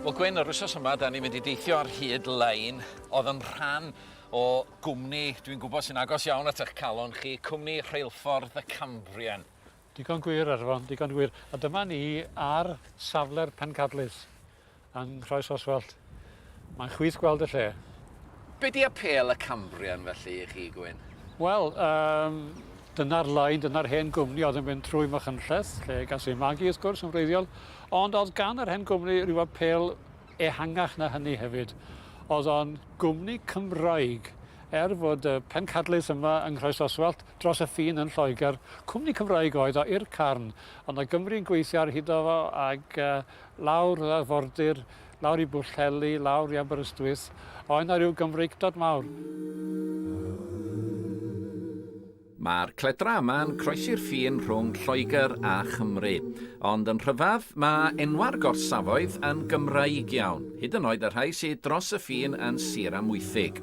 Wel Gwyn, yr wythnos yma 'dan ni'n mynd i deithio ar hyd lein o'dd yn rhan o gwmni dwi'n gwybod sy'n agos iawn at 'ych calon chi, cwmni Rheilffordd y Cambrian. Digon gwir, Arfon, digon gwir. A dyma ni ar safle'r pencadlys. Yn Nhraws Oswallt. Mae'n chwith gweld y lle. Be di apêl y Cambrian felly i chi, Gwyn? Wel, um, dyna'r lain, dyna'r hen gwmni oedd yn mynd trwy Machynlleth, lle gas ei magu wrth gwrs yn wreiddiol, ond oedd gan yr hen gwmni rhyw apêl ehangach na hynny hefyd. Oedd o'n gwmni Cymraeg, er fod y pencadlys yma yng Nghroes Oswallt dros y ffin yn Lloegr, cwmni Cymraeg oedd o i'r carn, ond o Gymru'n gweithio ar hyd o fo ac uh, lawr yr arfordir, lawr i Bwllheli, lawr i Aberystwyth, a oedd 'na ryw Gymreictod mawr. Mae'r cledra yma'n croesi'r ffin rhwng Lloegr a Chymru. Ond yn rhyfedd, mae enwau'r gorsafoedd yn Gymraeg iawn, hyd yn oed y rhai sy dros y ffin yn Sir Amwythig.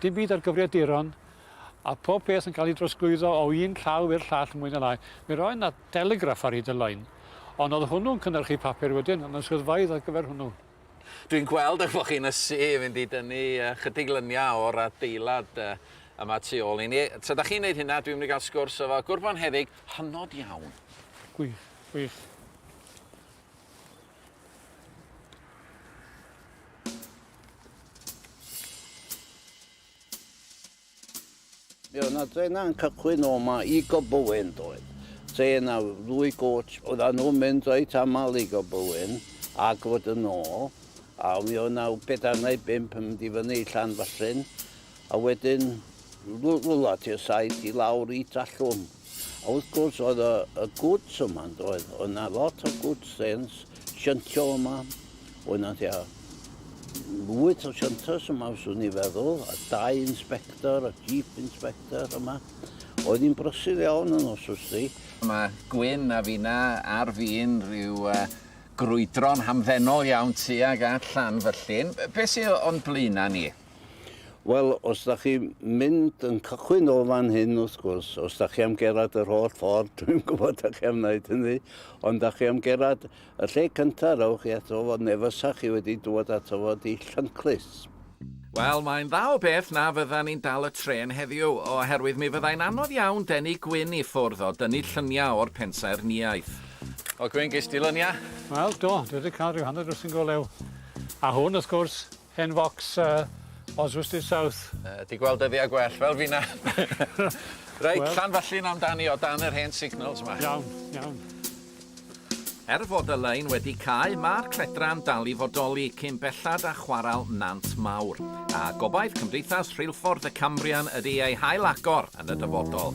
Dim byd ar gyfriaduron, a phob peth yn cael ei drosglwyddo o un llaw i'r llall mwy na lai. Mi roedd 'na deligraff ar hyd y lein, ond oedd hwnnw'n cynhyrchu papur wedyn, ond yn swyddfeydd ar gyfer hwnnw. Dwi'n gweld eich bod chi'n ysu fynd i dynnu ychydig lyniau o'r adeilad yma tu ôl i ni. Tra 'da chi'n neud hynna, dwi'n mynd i gael sgwrs efo gwr bonheddig hynod iawn. Gwych, gwych. Mi oedd yna drenau'n cychwyn o yma i Gobywyn doedd. Tren a ddwy goch, oedd yna nhw'n mynd reit aml i Gobywyn a gwrdd yn ôl. A mi oedd yna bedair neu bimp yn mynd i fyny i Llanfyllin. A wedyn rwla ti'r saith i lawr i Trallwm. A wrth gwrs oedd y, y gwts yma yn doedd. Oedd yna lot o gwts sens, shyntio yma. Oedd yna tua wyth o shynters yma fyswn i feddwl, a dau inspector, a jeep inspector yma. Oedd hi'n brysur iawn yn os wsti. Mae Gwyn a finna ar fin rhyw uh, grwydro'n hamddenol iawn tuag at Llanfyllin. Beth sydd o'n blaenau ni? Wel, os da chi mynd yn cychwyn o fan hyn, wrth gwrs, os da chi am gerad yr holl ffordd, dwi'n gwybod da chi am wneud hynny, ond da chi am gerad y lle cyntaf, rowch chi ato fo, neu fysa chi wedi dŵad ato fo di Llynllys. Wel, mae'n dda o beth na fydda ni'n dal y trên heddiw, oherwydd mi fyddai'n anodd iawn denu gwin i ffwrdd o dynnu lluniau o'r pensaernïaeth. O Gwyn, ges di luniau? Wel, do, dwi wedi cael rhyw hanner dwsin go lew. A hwn, wrth gwrs, Hen focs yy Oswestry South. Yy 'di gweld dyddia gwell fel fina. Reit. Wel. Llanfyllin amdani o dan yr hen signals 'ma. Iawn, iawn. Er fod y lein wedi cau, ma'r cledra'n dal i fodoli cyn bellad â chwarel Nant Mawr, a gobaith Cymdeithas Rheilffordd y Cambrian ydi ei hail-agor yn y dyfodol.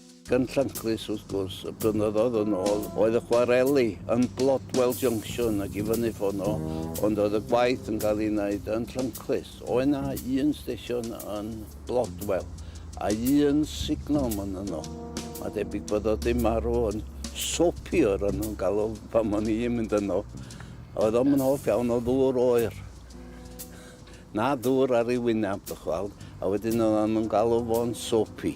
Gan Llanclys, wrth gwrs, y blynyddoedd yn ôl, oedd y chwareli yn Blodwell Junction ac i fyny ffono, ond oedd y gwaith yn cael ei wneud yn Llanclys. Oedd yna un stesion yn Blodwell a un signal man yno. Mae debyg bod o di marw yn sopi o'r yno yn galw pan o'n i'n mynd yno. Oedd o'm yn hoff iawn o ddŵr oer. Na ddŵr ar ei wyneb, dych weld, a wedyn oedd o'n galw fo'n sopi.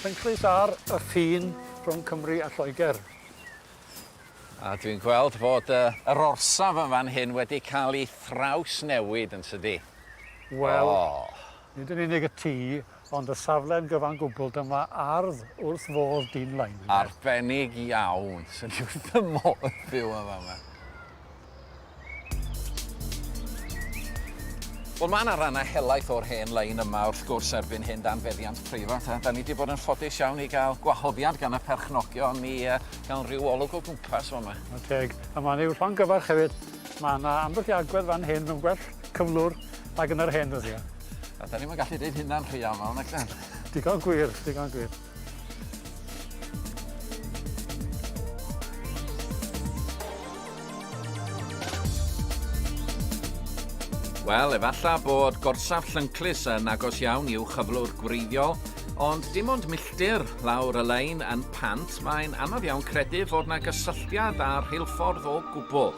Penclys ar y ffin rhwng Cymru a Lloegr. A dwi'n gweld bod uh, yr orsaf yn fan hyn wedi cael ei thrawsnewid yn tydi? Wel, oh. Nid yn unig y tŷ, ond y safle yn gyfan gwbl, dyma ardd wrth fodd dyn Laingler. Arbennig iawn! Swn i wrth fy modd byw yn fama. Wel, mae yna rannau helaeth o'r hen lein yma wrth gwrs erbyn hyn dan feddiant preifat, a da ni wedi bod yn ffodus iawn i gael gwahoddiad gan y perchnogion i uh, gael rhyw olwg o gwmpas o yma. Teg, a mae'n ei wrthon gyfarch hefyd. Mae yna ambell i agwedd fan hyn yn gwell cyflwr. Ac yn yr hen ddyddiau. A da ni'm yn gallu deud hynna'n rhy aml, nag dan? Digon gwir, digon gwir. Wel, efalla bod gorsaf llynclus yn agos iawn i'w chyflwr gwreiddiol, ond dim ond milltir lawr y lein yn pant, mae'n anodd iawn credu fod na gysylltiad â'r rheilffordd o gwbl.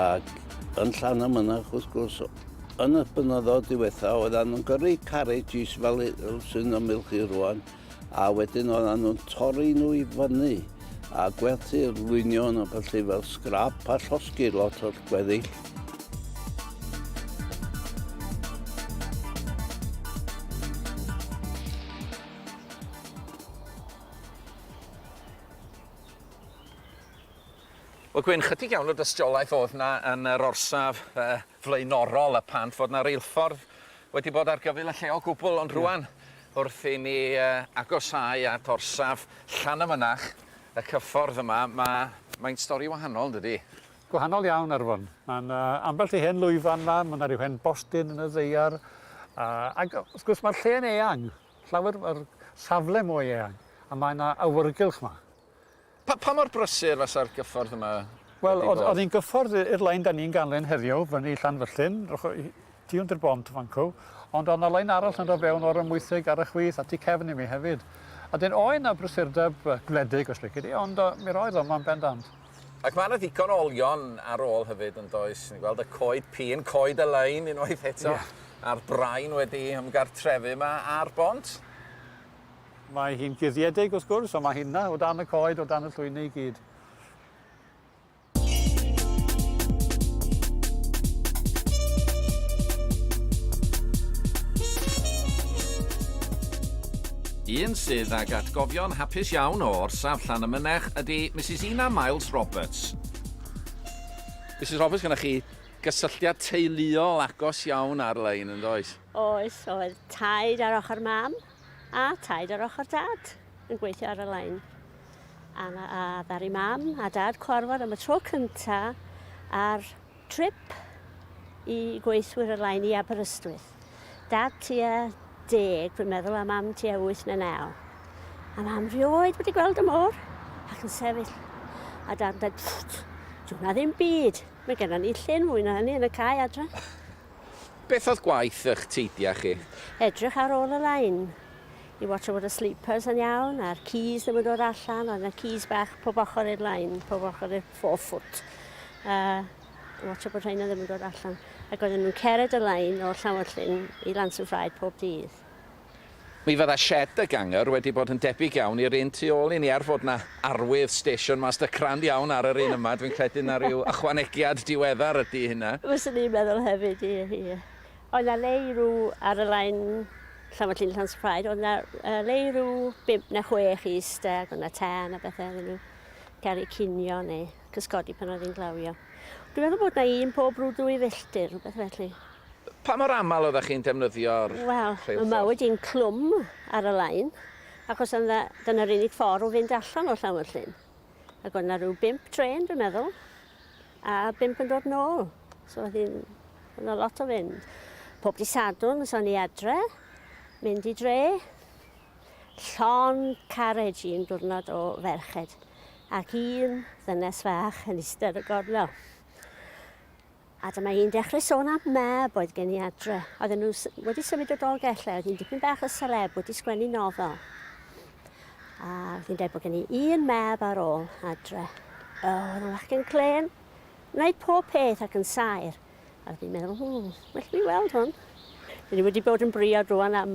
ac yn Llan y Mynach wrth gwrs yn y blynyddoedd diwetha oedden nhw'n gyrru carriages fel sy'n ymyl chi rwan a wedyn oedden nhw'n torri nhw i fyny a gwerthu'r lwynion a felly fel scrap a llosgi lot o'r gweddill. Wel gwyn chydig iawn o dystiolaeth o'dd na yn yr orsaf yy flaenorol y pant fod na reilffordd wedi bod ar gyfyl y lle o gwbwl ond rŵan wrth i ni yy agosau at orsaf Llanymynach y cyffordd yma ma' mae'n stori wahanol dydi? Gwahanol iawn Arfon. Ma' 'na ambell i hen lwyfan 'ma ma' 'na ryw hen bostyn yn y ddaear a ag yy wrth gwrs ma'r lle'n eang llawer ma'r safle mwy eang a mae 'na awyrgylch 'ma. Pa, pa mor brysur fasa'r gyffordd yma Wel, wedi bod? oedd hi'n gyffordd i'r lein da ni'n ganlyn heddiw, fyny Llanfyllin, tu hwnt i'r bont fan cw, ond oedd na lein arall yn dod fewn o'r ymwythig ar y chwith a tu cefn i mi hefyd. A dyn oedd na brysurdeb gwledig os lici di, ond mi roedd o yma'n bendant. Ac mae yna ddigon o olion ar ôl hefyd yn does? Ni'n gweld y coed pîn, coed y lein unwaith eto, a'r brain wedi ymgartrefu yma ar bont. Mae hi'n guddiedig wrth gwrs, ond mae hi 'na, o dan y coed, o dan y llwyni i gyd. Un sydd ag atgofion hapus iawn o orsaf Llan y Mynech ydy Mrs Ina Miles Roberts. Mrs Roberts, gyda chi gysylltiad teuluol agos iawn ar-lein, yn does? Oes, oedd taid ar ochr mam a taid ar ochr dad yn gweithio ar y lein. A, a ddaru mam a dad cwarfod am y tro cynta ar trip i gweithwyr y lein i Aberystwyth. Dad tua deg, dwi'n meddwl, a mam tua wyth neu naw. A mam rioed wedi gweld y môr ac yn sefyll. A dad yn dweud, dwi'n na ddim byd, mae gennym ni llun fwy na hynny yn y cae adre. Beth oedd gwaith ych teidia chi? Edrych ar ôl y lein. I watch fod y sleepers yn iawn a'r keys ddim yn dod allan. Oedd yna keys bach pob ochr i'r lein, pob ochr i'r four foot. A watch bod rhain ddim yn dod allan. Ac oedden nhw'n cered y lein o'r llawr llyn i Lance and Fried pob dydd. Mi fydda sied y Ganger wedi bod yn debyg iawn i'r un tu ôl i ni er fod 'na arwydd Station Master crand iawn ar yr un yma, dwi'n credu 'na ryw ychwanegiad diweddar ydi hynna. Fyswn i'n meddwl hefyd, ie, ie. Oedd 'na leirw ar y lein Llanfachlin Llansillaid, oedd 'na yy leirw bump na chwech i iste ac oedd 'na tân a bethe iddyn nhw gael eu cinio neu cysgodi pan oedd hi'n glawio. Dwi'n meddwl bod 'na un pob rhyw dwy filltir, rhywbeth felly. Pa mor aml oeddech chi'n defnyddio'r rheilffordd? Wel, yma wedi yn clwm ar y lein, achos yna, dyna'r unig ffordd o fynd allan o Llanfyllin. Ac oedd yna rhyw bimp trên, dwi'n meddwl, a bimp yn dod nôl. So oedd hi'n... oedd yna lot o fynd. Pob di sadwn, so ni adre, mynd i dre. Llon carriage un diwrnod o ferched, ac un ddynes fach yn eistedd y gornel. A dyma hi'n dechrau sôn am mab oedd gen i adre. Oedden nhw wedi symud o Dolgell lle oedd hi'n dipyn bach o seleb wedi sgwennu nofel. A oedd hi'n dweud bod gen i un mab ar ôl adre. O, oedd yn fachgen clên, wneud pob peth ac yn saer. A oedd hi'n meddwl, hmm, well fi weld hwn. Dyn ni wedi bod yn briod rwan am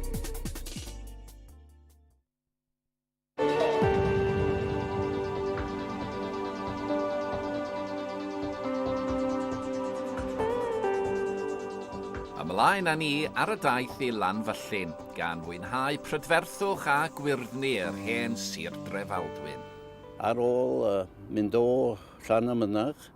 Ymlaen â ni ar y daith i Lanfyllin, gan fwynhau prydferthwch a gwyrddni yr hen Sir Drefaldwyn. Ar ôl mynd o Llanymynach,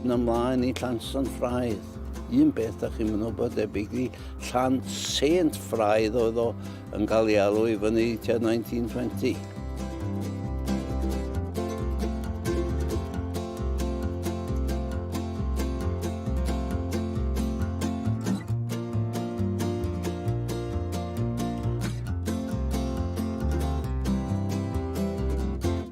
Yn ymlaen i Llansan Ffraidd. Un beth da chi'n mynd bod debyg i Llan Saint Ffraidd oedd o yn cael ei alw i fyny tua 1920.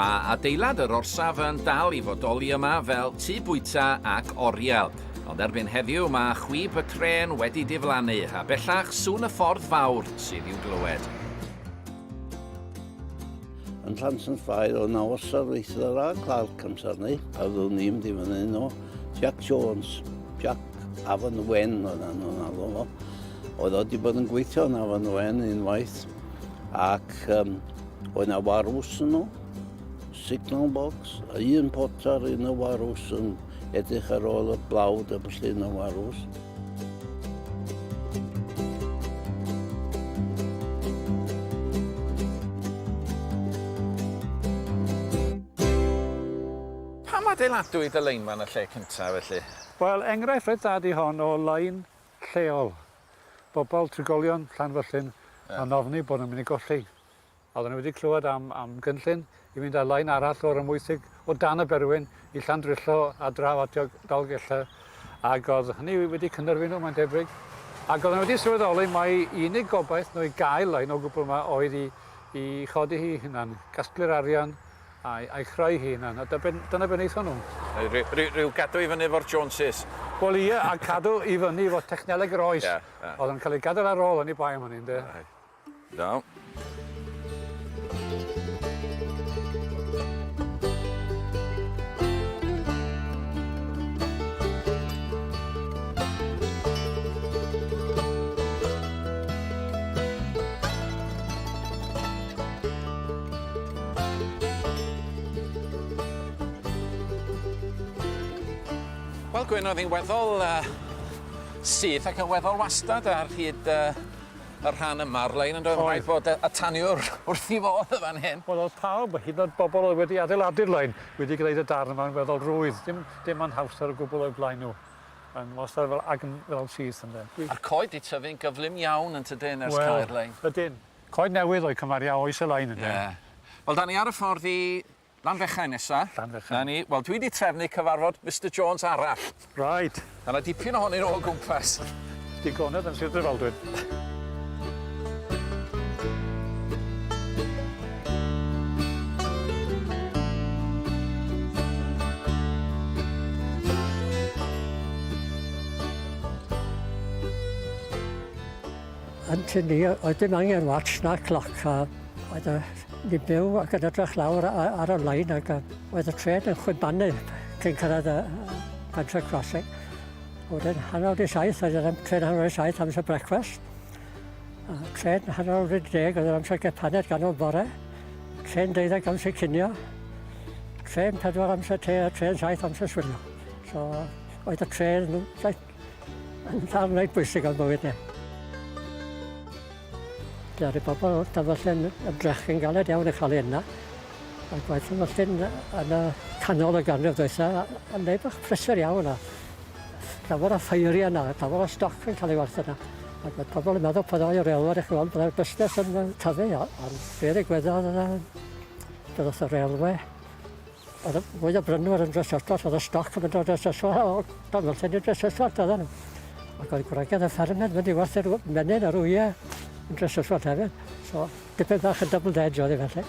Mae adeilad yr orsaf yn dal i fodoli yma fel tu bwyta ac oriel. Ond erbyn heddiw mae chwib y tren wedi diflannu a bellach sŵn y ffordd fawr sydd i'w glywed. Yn Llans yn Ffair o na osa reithwyr a Clark amser ni, a rwy'n ni'n mynd i fyny nhw, Jack Jones, Jack Afon Wen oedd nhw'n alw fo. Oedd o wedi bod yn gweithio yn Afon Wen unwaith, ac um, oedd na warws yn nhw, signal box, a un potar, un o warws yn edrych ar ôl y blawd a felly yn y warws. Pam adeiladwyd y lein 'ma yn y lle cynta felly? Wel, enghraifft reit dda ydi hon o lein lleol. Bobol, trigolion Llanfyllin yn ofni bod nhw'n mynd i golli Oedden nhw wedi clywed am, am gynllun i fynd ar lain arall o'r ymwysig o dan y berwyn i Llandrillo a draw at Dolgella ac oedd hynny wedi cynnerfu nhw mae'n debyg ac oedden nhw wedi sylweddoli mai unig gobaith nhw i gael lain o gwbl yma oedd i, i chodi hi hunan, gasglu'r arian a'i, a'i chreu hi hunan a dyna beth wnaethon nhw. Rhyw, rhyw gadw i fyny efo'r Joneses. Wel ie, a cadw i fyny efo techneleg yr oes. Yeah, yeah. Oedd yn cael ei gadael ar ôl yn ei bai am hynny, ynddo? Right. Iawn. Wel Gwyn oedd hi'n weddol yy syth ac yn weddol wastad ar hyd yy y rhan yma o'r lein yndoedd? Oedd. Rhaid bod y y taniwr wrth 'i fodd yn fan hyn. Wel o'dd pawb, hyd yn o'd bobol oedd wedi adeiladu'r lein wedi gneud y darn yma'n weddol rwydd. Dim dim anhawster o gwbwl o'u blaen nhw. Mae'n wastad fel agn fel syth ynde? Dwi... A'r coed 'di tyfu'n gyflym iawn yn tydyn ers cau'r lein? Wel, ydyn. Coed newydd oedd cymharu â oes y lein ynde? Ie. Wel 'dan ni ar y ffordd i Lanfechau nesa. Lanfechau. 'Na ni. Wel, dwi 'di trefnu cyfarfod Mister Jones arall. Reit. Ma' 'na dipyn ohonyn nw o gwmpas. Digonedd yn Sir Drefaldwyn. Yn tŷ ni oedd dim angen watch na cloc a oedd y Ni'n byw ac yn edrych lawr a- a- ar y lein ag yy oedd y trên yn chwibanu cyn cyrraedd y y Pentre Crossing. A wedyn hanner awr 'di saith oedd yr am- trên hanner awr 'di saith amser brecwast. A trên hanner awr wedi deg oedd yr amser gêm paned ganol bore. Trên deuddeg amser cinio. Trên pedwar amser te a trên saith amser swilio. So oedd y trên saith Mae'n rhan reit bwysig o'n bywyd ni. Ddaru pobl o Dyfallen ymdrechu'n galed iawn i chael hyn na. Mae gwaith Dyfallen yn y canol y ganrif ddwytha yn neud bach prysur iawn a llawer o ffeiri yna, llawer o stoc yn cael ei werth yna. Ac oedd pobl yn meddwl pan oedd reolwr i chi weld bod busnes yn tyfu, ond fe ddigwyddodd, doedd y railway O'dd y mwy o brynwyr yn Drysorth o'dd y stoc yn mynd o Drysorth o o Dolgellau i Drysorth oddan n'w. Ac oedd gwragedd y ffermydd mynd i werthu'r w- menyn a'r wye yn Drysorth hefyd. So dipyn bach yn double edge oedd e felly.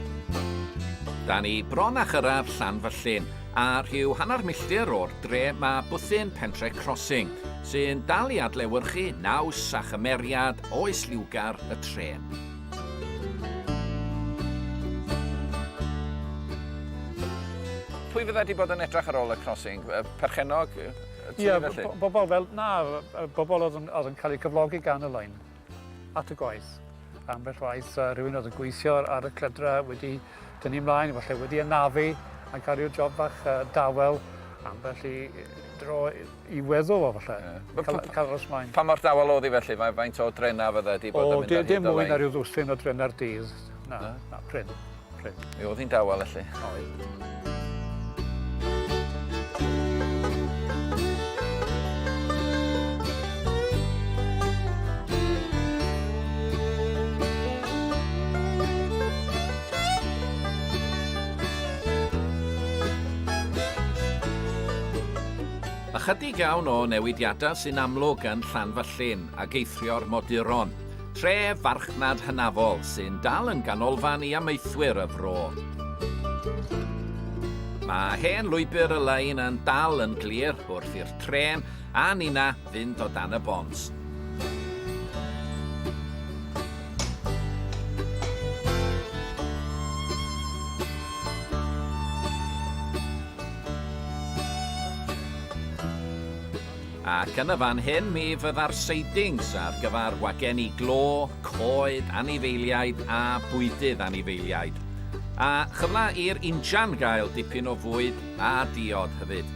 Da ni bron â chyrraedd Llanfyllin, a rhyw hanner milltir o'r dre mae bwthyn Pentre Crossing, sy'n dal i adlewyrchu naws a chymeriad oes liwgar y trên. Pwy fydda wedi bod yn edrach ar ôl y crossing? Perchennog? Ie, bobl fel, na, bobl oedd yn cael eu cyflogi gan y lein. At y gwaith. Ambell waith rhywun oedd yn gweithio ar y clydra wedi dynnu mlaen, falle wedi anafu a gario job bach dawel ambell i dro i weddw o falle. Yeah. Caros mlaen. Pa mor dawel oedd hi felly? Faint o drena fydde wedi bod yn mynd ar hyd o lein? Dim mwy na rhyw ddwsin o drena'r dydd. Na, na, na prin. prin. Mi oedd hi'n dawel felly. Oedd. Ychydig iawn o newidiadau sy'n amlwg yn Llanfallin ac eithrio moduron. Tre farchnad hynafol sy'n dal yn ganolfan i amaethwyr y fro. Mae hen lwybr y lein yn dal yn glir wrth i'r tren a nina fynd o dan y bont. ac yn y fan hyn mi fydda'r sidings ar gyfer wagenni glo, coed, anifeiliaid a bwydydd anifeiliaid. A chyfle i'r injan gael dipyn o fwyd a diod hefyd.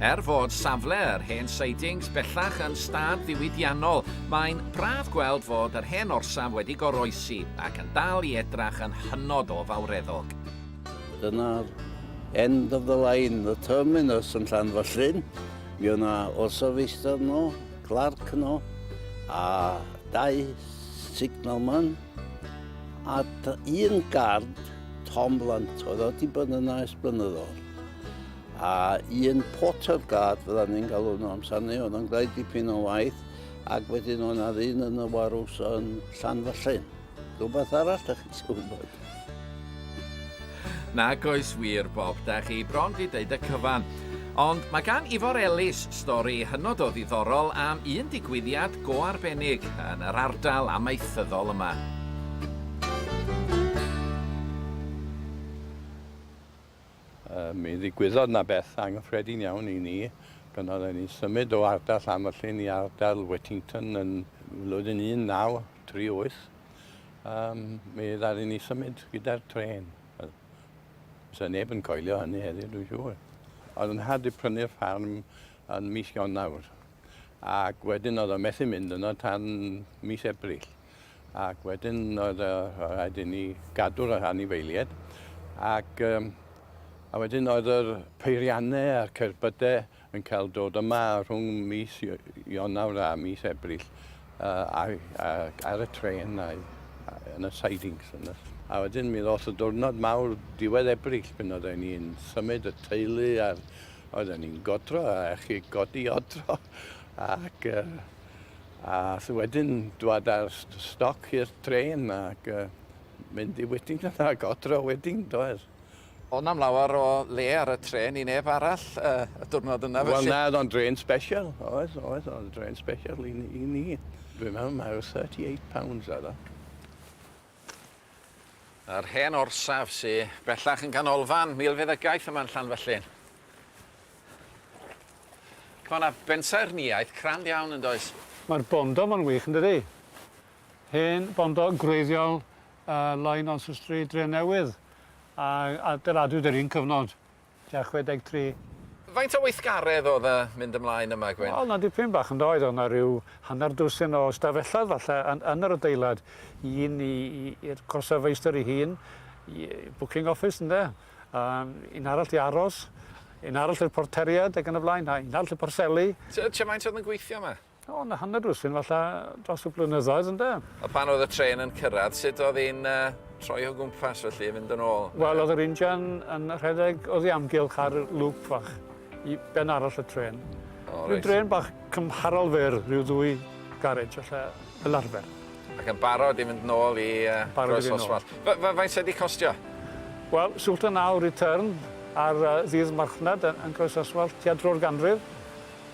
Er fod safle yr hen sidings bellach yn stad ddiwydiannol, mae'n braf gweld fod yr hen orsaf wedi goroesi ac yn dal i edrach yn hynod o fawreddog. Dyna'r end of the line, y terminus yn Llanfyllin. Mi oedd 'na orsaf feistr yno, clarc yno, a dau signalman, a un gard, Tom Blunt, oedd o wedi bod yna ers blynyddoedd. A un porter guard, fydda ni'n galw nhw amser ni, oedd yn gwneud dipyn o waith, ac wedyn oedd 'na ddyn yn y warws yn Llanfyllin. Rhywbeth arall da chi isio wybod? Nag oes wir, Bob, da chi bron di deud y cyfan. Ond mae gan Ifor Ellis stori hynod o ddiddorol am un digwyddiad go arbennig yn yr ardal amaethyddol yma. Mi ddigwyddodd 'na beth anghyffredin iawn i ni pan oedden ni'n symud o ardal Llangollen i ardal Wettington yn flwyddyn 1938. Um, mi ddaru ni symud gyda'r tren. Fysa neb yn coelio hynny heddiw, dwi'n siŵr. Oedd yn had i prynu'r ffarm yn mis Ionawr ac wedyn oedd o'n methu mynd yno tan mis Ebrill. ac wedyn oedd yy rhaid i ni gadw'r yr anifeilied ac yym a wedyn oedd yr peirianne a'r cerbyde yn cael dod yma rhwng mis Iy- Ionawr a mis Ebrill yy a'i ac ar y trên a'i a- yn y sidings yn y a wedyn mi ddoth y diwrnod mawr diwedd Ebrill pan oedden ni'n symud y teulu a'r oedden ni'n godro a chi godi odro ac yy A wedyn dwad ar stoc i'r trên ac uh, mynd i Whittington a godro wedyn, doedd. O nam lawer o le ar y tren i neb arall uh, y diwrnod yna felly? Wel na, oedd o'n dren special, oedd, oedd, oedd o'n dren special i, i ni. Dwi'n meddwl mae o 38 pounds oedd o. Yr hen orsaf sy bellach yn ganolfan milfeddygaeth yma yn Llanfyllin. Mae yna bensaernïaeth crand iawn yn does? Mae'r bondo ma'n wych yndydi? Hen bondo gwreiddiol yy Loyne Nonsuch Street Drenewydd a adeiladwyd yr un cyfnod tua 63. Faint o weithgaredd oedd y mynd ymlaen yma, Gwyn? Wel, 'na dipyn bach, yndoedd? Oedd 'na ryw hanner dwsin o stafelloedd falle yn yn yr adeilad. Un i i i'r gorsaf feistr 'i hun, i booking office ynde? Yym un arall i aros, un arall i'r porteried ag yn y blaen, a un arall i porthseli. T- tua faint oedd yn gweithio 'ma? O, na hanner dwsin falla dros y blynyddoedd ynde? A pan oedd y trên yn cyrraedd, sut oedd hi'n uh, troi o gwmpas felly, fynd yn ôl? Wel, oedd yr injan yn rhedeg oedd ei amgylch ar lŵp fach i ben arall y tren. Oh, Rwy'n dren bach cymharol fer, rhyw ddwy garej allai fel arfer. Ac yn barod i fynd nôl i uh, Groes Oswald. Faint sydd wedi costio? Wel, sŵlt yn awr i tyrn ar uh, ddydd marchnad yn, yn Groes Oswald, tua dro'r ganrif.